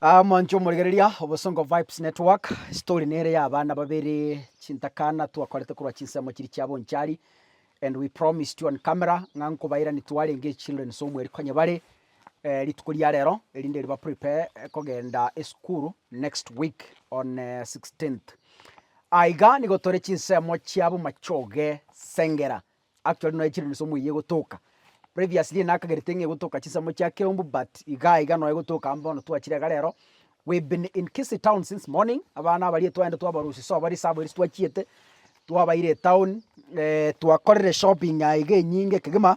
Ah, mwancho omorigereria obosongo vibes network story nere ya abana babere chintakana twakorete korwa chinsemo chiri chia bonchari and we promised you on camera ng'a nkobairani twarenge children so mweri konya bare eh, rituko ria rero erinde riba prepare eh, kogenda esukuru next week on eh, 16th aiga nigo tore chinsemo chia bomachoge sengera Actually nonya chire nse omoyia egotoka, previously nakagerete ng'a egotoka chinsemo chia Keumbu but igaa iga nonya egotoka amo bono twachire iga rero, we been in Kisii town since morning, abana abaria twaenda twabarusia so baria sabo eria titwachiete, twabaire etown twakorire shopping aiga enyinge kegima.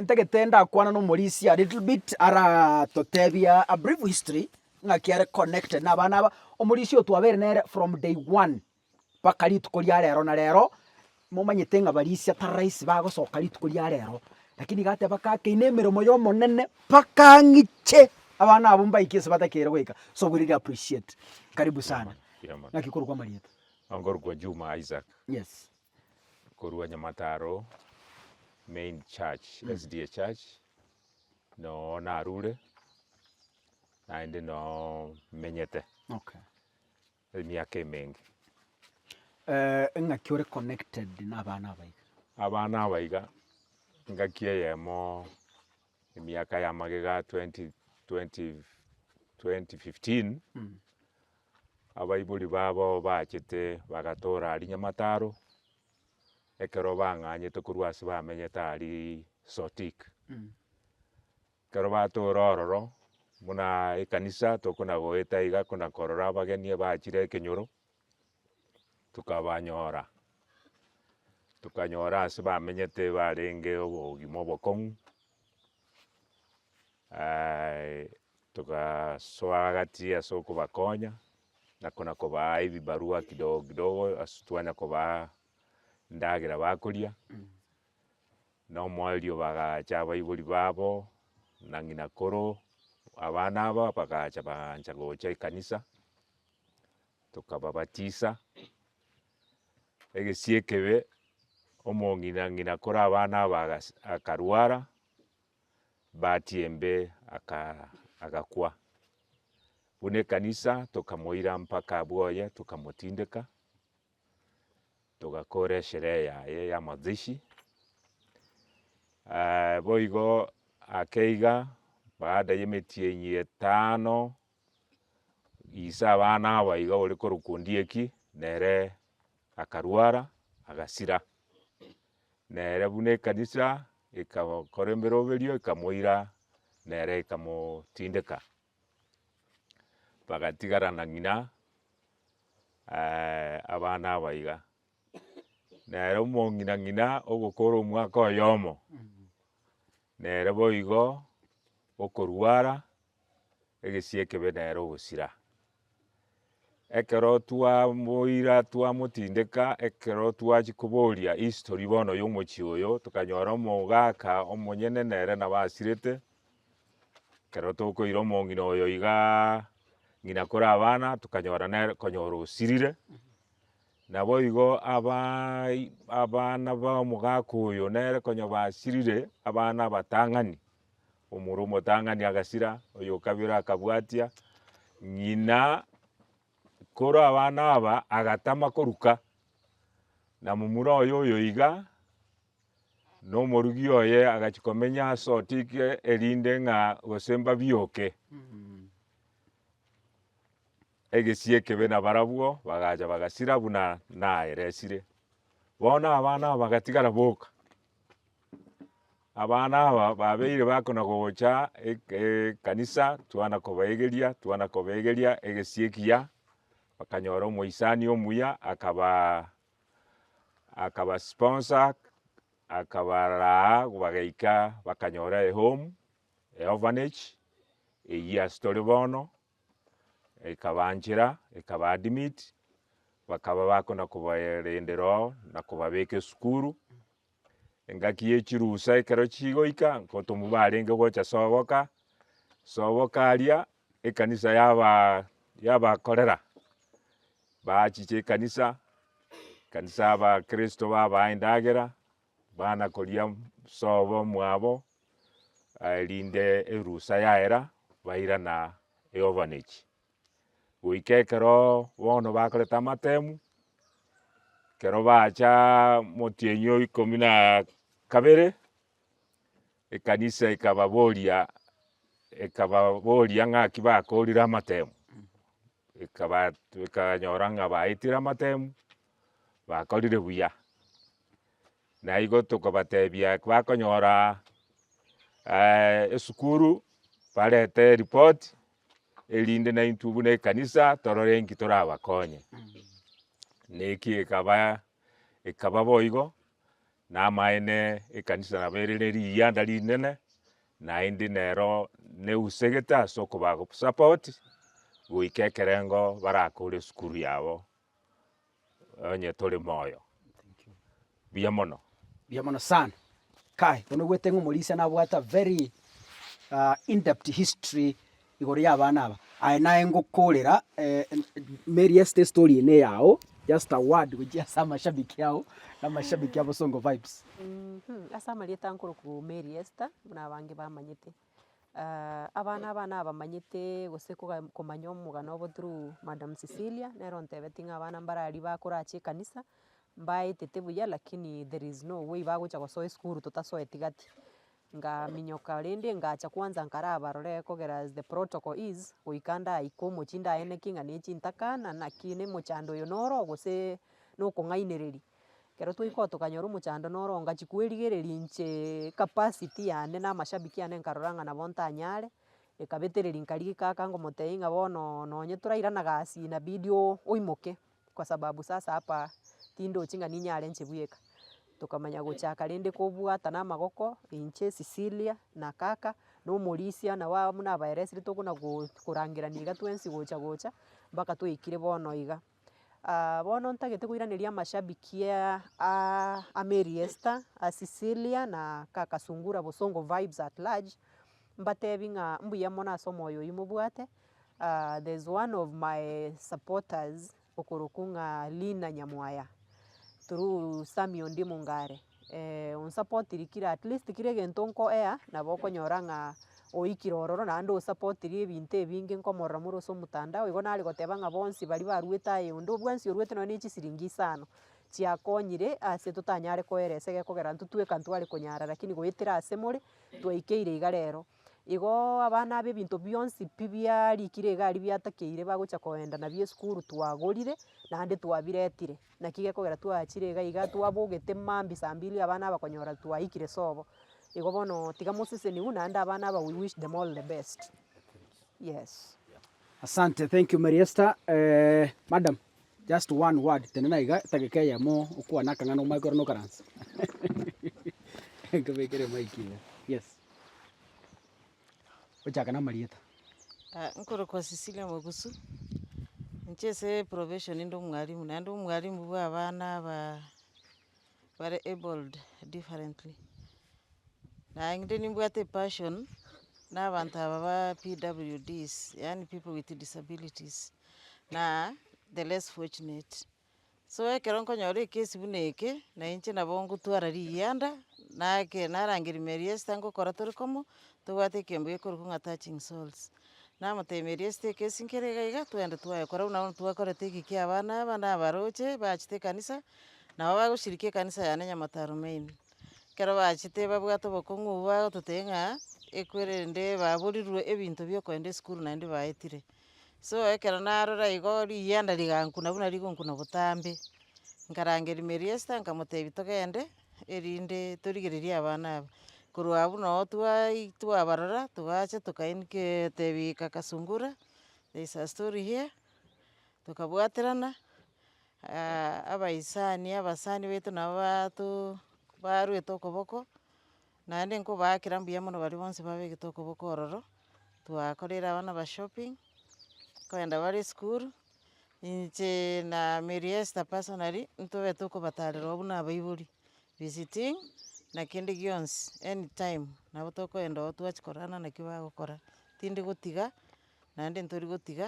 ntagete ndakwana nomorisia a little bit aratotebia a brief history ng'aki are connected na abana aba, omorisia oyo twabere nere from day one mpaka rituko ria rero na rero, momanyete ng'a barisia tarahisi bagosoka rituko ria rero, lakini iga ateba kake ine emeremo ya omonene mpaka ng'iche abana abwo mbaike ase batakeire goika, so we really appreciate, karibu sana. Ng'aki korokwa amarieta? Nkorokwa Juma Isaac. Yes. korwa Nyamataro main church, SDA church, noo narure, naende noo menyete Okay. emiaka emenge. Eh, eng'aki ore connected nabana abaiga? Abana abaiga, engaki eyemo emiaka ya magega 20, 20, 2015, Abaibori babo bachete bagatoora aria Nyamataro, ekero bang'anyete korwa ase bamenyete aria Sotik. Ekero batoora ororo, buna ekanisa tokona goeta iga kona korora abageni abachire ekenyoro, tokabanyora, tokanyora ase bamenyete barenge obogima obokong'u Togasoa gati ase okobakonya na konakobaa ebibarua kidogo kidogo ase twanya kobaa endagera bakoria, na omoerio bagacha abaibori babo na ng'ina koro abana aba bagacha baancha gocha ekanisa, tokababatisa. Egesie ekebe, omong'ina ng'ina kore abana aba agas akarwara. Bahati embe agakwa, buna ekanisa tokamoira mpaka abwo oye tokamotindeka, togakora esherehe yaye ya mazishi. Boigo ake iga baada ya emetienyi etano Ise abana abo iga ore korokwa Ondieki, nere akarwara, agasira. Nere buna ekanisa egakora emeroberio ekamoira nere ekamotindeka. Bagatigara na ng'ina abana aba iga. Nere omong'ina ng'ina ogokora omwaka oyomo, nere boigo okorwara. egesie ekebe nere ogosira. Ekero twamoira twamotindeka, ekero twachia koboria history bono ya omochie oyo, tokanyora omogaka omonyene nere nabo asirete, ekero tokoira omong'ina oyo igaa ng'ina kore abana, tokanyora nere konyora osirire. Naboigo abaai abana ba omogaka oyo nere konya basirire abana abatang'ani, Omoro omotang'ani agasira, oy'okabio ore akabwatia ng'ina korwa abana aba agatama koruka, na momura oye oyo iga nomorugi oye agachia komenya ase otiki erinde ng'a gose mbabioke egesie ekebe na barabwo bagacha bagasira buna naeresire. Bono abana aba bagatigara boka, Abana aba babeire bakona gocha ek- ekanisa, twana kobaegeria, twana kobaegeria egesie ekiya, bakanyora omoisani omuya akabaa akaba sponsor akabaraa bagaika bakanyora ehome, eorphanage, eyio ase tore bono. Ekabanchera, ekabaadmit, bakaba bakona kobaerendera oo na kobabeka esukuru. Engaki ye chirusa ekero chigoika, ngotomwa barenge gocha soboka, soboka aria ekanisa yaba yabakorera, baachicha ekanisa, ekanisa abakristo babaha endagera. Bana koria sobo mwabo erinde erusa yaera bairana eovanechi. Goika ekero bono bakorete amatemu, ekero bacha motienyi o ikomi na kabere, ekanisa ekababoria ekababoria ng'aki bakorire amatemu. Bikaba bikanyora ng'a baetire amatemu, bakorire buya, naigo tokobatebia bakonyora esukuru barete eripoti erinde naintwe buna ekanisa torore inki torabakonye. Naki ekaba ekaba boigo, Namaene ekanisa nabo ere ne riganda rinene, naende nero neusegete ase okoba support goika ekerengo barakore esukuru yabo onye tore moyo. Buya mono. Buya mono sana. Kai, bono ogwete ng'a omorisia nabwate a very in depth history Igoro y'abana aba, aye naye ngokorera Mary Esther story eye neyao just a word gochia ase amashabiki ao na amashabiki a Bosongo Vibes. Mh, ase amarieta aa nkorokwa Mary Esther, buna abange bamanyete. abana aba nabamanyete gose koga komanya omogano obo through Madam Cecilia, nere ontebeti ng'a abana mbare aria bakore ache ekanisa, mbaetete buya lakini there is no way bagocha gosoa esukuru totasoeti gati. Ngaminyoka rende ngacha kwanza nkarabarore kogera as the protocol is, goika ndaika omochie ndaeneke ng'a ne chintaka na naki na omochando oyo noro oo gose na okong'ainereria. Ekero twaika oo tokanyora omochando noro oo ngachia kwerigereria inche ecapacity yane na amashabiki ane nkarora ng'a nabo ntanyare, ekabetereria nkarigia kaka ngomotebia ng'a bono nonye torairana gasi inabidi oo oimoke. Kwa sababu sasa hapa tindochi ng'a ninyare nche bweka. Tokamanya gochaka rende kobwatana amagoko, inche, Cecilia, na kaka, na omorisia, na ba buna abaeresiri tokona go korangerania iga twensi gocha gocha, mpaka twaikire bono iga. bono ntagete koiraneria amashabiki aa aa a Mary Esther, a Cecilia, na kaka Sungura Bosongo Vybz at large, mbatebi ng'a mbuya mono ase omoyo oyio mobwate, there's one of my supporters okorokwa ng'a Lina Nyamwaya through Sammy Ondi Mongare, onsapotirie kira at least kera egento nkoea nabo okonyora ng'a oikire ororo naende osapotirie ebinto ebinge nkomorora more ase omotandao, igo nare goteba ng'a bonsi baria barwete aye onde bwensi orwete nonye na echisiringi isano, chiakonyire ase totanyare koeresa egekogera intwe tweka ntware konyara, rakini goetera ase more. twaikeire iga rero. Igoo abana aba ebinto bionsi pi biarikire iga aria biatakeire bagocha koenda nabio esukuru twagorire, naende twabiretire. Naki gekogera twaachire iga iga twabogete mambia saa mbili abana aba konyora twaikire sobo. Igo bono tiga moseseniwe naende abana aba we wish them all the best. Yes. Asante, thank you Mary Esther, madam. Just one word, tenena iga edageka eyemo okwane akang'ana omanye korende okaranse. Nkobekere mic iga. Yes. Ochake namarieta. Ah, nkorokwa Cecilia Mwabusu, inche ase profession inde omwalimu, naende omwalimu bw'abana aba. bare abled differently. Naye inde nimbwate epassion na abanto aba ba PWDs, yaani people with disabilities, na the less fortunate. So ekero nkonyora ekesi buna eke, na inche nabo ngotwara riyanda, nake narangeria Mary Esther ngokora tore komo, tobwate ekemboyo ekorokwa ng'a touching souls. Namoteemerie esiteka esi nkere iga iga, twende twaye. Korwa buna bono twakorete egekio abana aba na abaroche bachete ekanisa, nabo bagochirikia ekanisa yane Nyamataro main. Ekero bachete babwate obokong'u obwo bagototebia ng'a ekwere rende baborirwe ebinto bi'okoenda esukuru naende baetire. So ekero narora igo riyanda rigankuna buna rigonkuna botambe, nkarangeria Meriester nkamotebia togende, erinde torigererie abana aba. Korwa abwo nabo twai twabarora togacha tokainkia totebi kaka sungura there is a story here tokabwaterana abaisani abasani baito nabo bato barwete okoboko naende nkobaakera mbuya mono baria bonsi babegete okoboko ororo, twakorera abana ba shopping, nkoenda bare esukuru Inche na Mary Esther personally ntobe tokobatarera oo buna abaibori, visiting na kende gionsi any time nabo tokoenda oo twachia korana naki bagokora, tindi gotiga naende ntori gotiga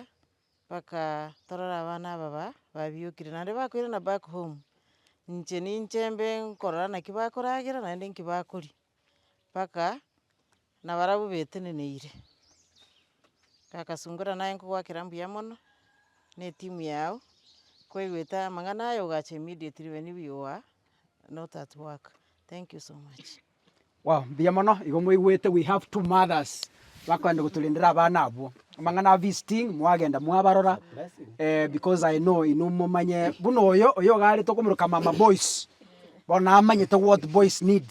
mpaka torore abana aba ba babiokire naende bakoirana back home, inche ninche mbe nkorora naki bakoragera naende nki bakoria. mpaka nabarabwo beteneneire. Gagasungora naye nkogwakera mbuya mono, na etimu yago, koigwete amang'ana aya ogacha immediately when you are not at work. Thank you so much. Wow, mbuya mono, igo mwaigwete we have two mothers bakoenda gotorendera abana abwo. Amang'ana a visiting mwagenda mwabarora eh, because I know inwe momanye buna oyo, oyo iga arete okomoroka mama boys. Bono amanyete what boys need.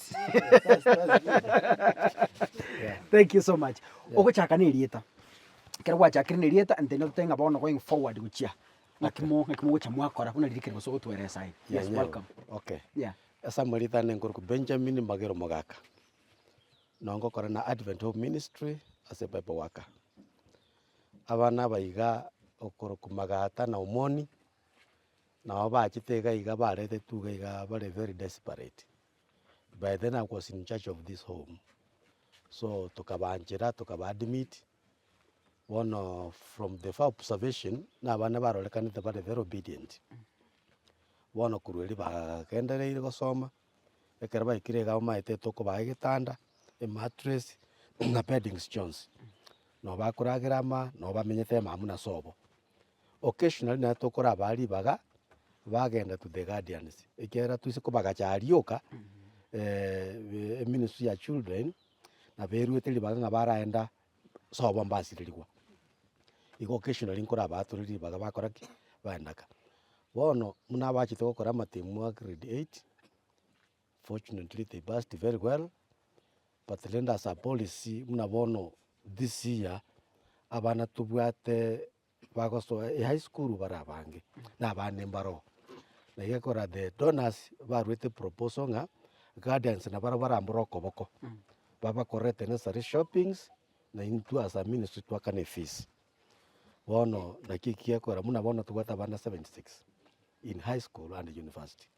Thank you so much. Ogochaka na erieta. Ekero gwachakire na erieta ntende otete ng'a bono going forward gochia ng'aki mo ng'aki mogocha mwakora buna riria kere gose ogotweresa aye. Yes, Nyanyae. welcome. Okay. Yeah. Ase amaritana enkorokwa Benjamin Magere Omogaka. Noo ngokora na Advent Home Ministry ase Pipe Worker. Abana aba iga okorokwa Magata na Omoni, Nabo bachete iga iga baretetwe iga iga bare very desperate, by then I was in charge of this home, so tokabaanchera tokaba admit, bono from the far observation na abana barorekanete bare very obedient, bono korwa erio bagagendereire gosoma, ekero baikire iga bamaete tokobaa egetanda, emattress, na beddings chionsi, nabo bakoragera ama, nabo bamenyete amaamuna sobo. O kesho nari naye tokorabaa ribaga, bagenda to the guardians, ekiagera twise kobagacha aria rioka eministry ya children na beruete ribaga ng'a baraenda sobo mbasirerigwa. Igo kesho nari nkorabaatore ribaga bakora ki? Baenda ka. Bono buna abachete gokora amatemwa a grade eight. Fortunately they passed very well but rende ase apolisi buna bono this year abana tobwate bagosoa high school bare abange na abande mbaro na egekora the donors barwete proposal ng'a guardians na baria bare mboro okoboko babakorere the necessary shoppings na intwe as a ministry twakane fees. Bono naki ekegekora buna bono tobwate abana 76 in high school and university.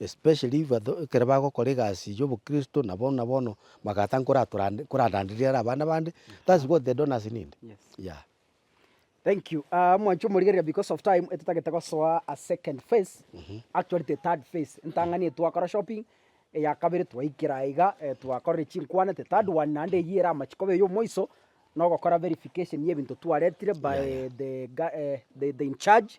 Especially ekero bagokora egasi ya obokristo na bono na bono bagataka koraranderia ere abana bande that's what the donors need yeah. Thank you mwanche omorigereria because of time totagete gosoa a second phase actually the third phase entang'ani eye twakora shopping eya kabere twaikera aiga twakorire chinkwana the third one naende eyio ere amache koba eye omoiso na ogokora verification ya ebinto twaretire by the incharge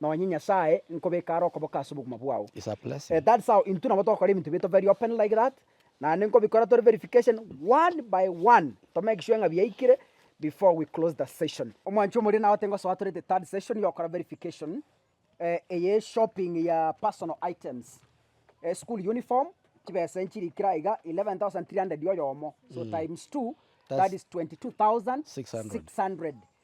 nonye Nyasae nkobeke are okoboka ase obogima bwao. It's a blessing. Eh, that's how intwe nabo togokora ebinto bito very open like that naende nkobikora tore verification one by one to make sure ng'a biaikire before we close the session omwanchi omoria naote ngosoa tore the third session yokora verification eh, eye shopping ya personal items eh, school uniform chibesa enchiri kira aiga 11300 oyomo so times two that That's is 22600 600.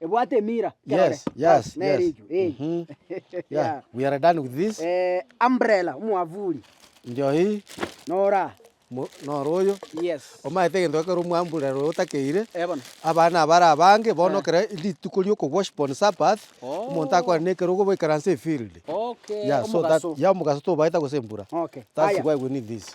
Ebwate emira, kerore. Yes, yes, Bas, nere yes. ekio, eh. Mhm. Yeah, we are done with this. Eh, umbrella, omwavuli, Njohi, nora. mo- noro oyo. Yes. Omaete egento ekero omwamburero oyo otakeire, Eh, bono. abana abare abange bono Eh. ekero rituko riokobworship on Sabbath, Oh. omonto akore nekero ogoboikaransa efield. Okay, Yeah, so that, omogaso. yeah, omogaso tobaeta gose embura. Okay, That's aya. why we need this.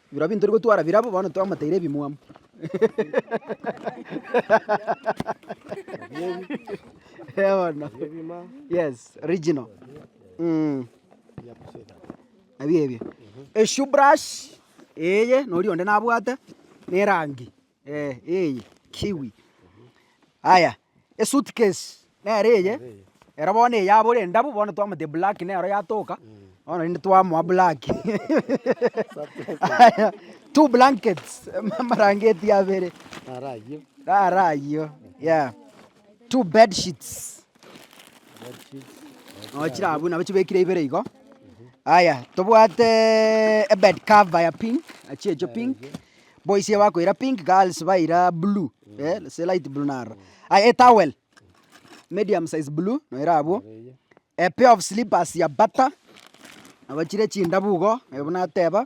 Biro binto tori gotwara birabo, bono twamoteire ebimwamu. Bono. Yes, original. Mm. Ebio ebio. Eshoe brush, eye, nori onde nabwate, na erangi. Eye kiwi, aya esuitcase nere eye, ero bono eye abore endabu, bono twamotebia black nero yatoka, bono rende twamoa black aya two blankets amablanketi abere naro ayio, yeah two bedsheets. Oo chirabu nabo chibekire ibere igo. Aya tobwate ebed cover ya pink, chiechio pink, boys bakoira pink, girls baira blue, eh gose light blue naro. Aya etowel, medium size blue nayo ere abwo, a pair of slippers ya bata, nabo chire chindabu igo, naye buna ateba.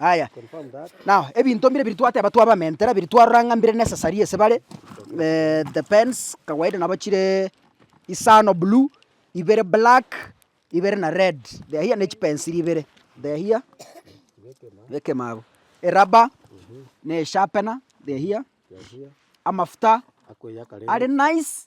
Yaya, nao ebinto mbire biria twateba twabamentera, biria twarora ng'a mbire necessary ase bare, the pens kawaida nabo chire isano blue, ibere black, ibere na red, they are here ne chipens chiria ibere, they are here, bekemo abwo, eraba, na esharpener, they are here, amafuta are nice.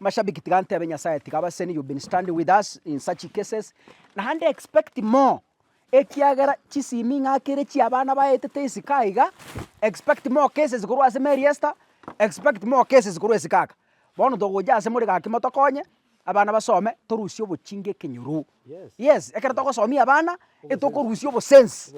Amashabiki tiga ntebe Nyasaye tiga abaseni you've been standing with us in such cases naende expect more ekiagera chisimi ing'akire chia abana baetete esika iga expect more cases korwa ase Mary Esther expect more cases korwa esika aka. Bono togocha ase more gaki motokonye abana basome torusie obochinga ekenyoro. Yes, ekero togosomia abana, etokorusia obosensi,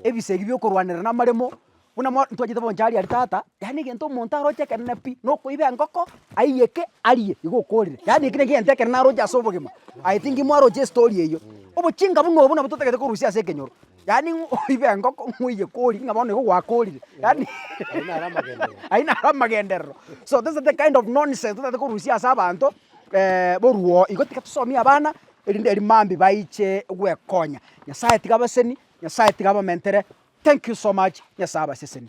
ebise ebi biokorwanera na amaremo, buna mo ntwachete boncha aria aria tata, yaani egento omonto aroche ekerene pi, na okoiba engoko, aiyeke, arie, igo okorire. Yaani ekio nekio egento ekerene aroche ase obogima. I think mwaroche estory eyio. Obochinga buna obo nabo totagete korusia ase ekenyoro, yaani ng'o oibe engoko, ng'o oiyeke orie, ng'a bono igo gwakorire, yaani ayio naro amagenderero. So those are the kind of nonsense totagete korusia ase abanto, boruo oo, igo tiga tosomie abana, erinde erio mambia baiche gwekonya. Nyasaye tiga abaseseni, Nyasaye tiga abamentere, thank you so much, Nyasaye abaseseni.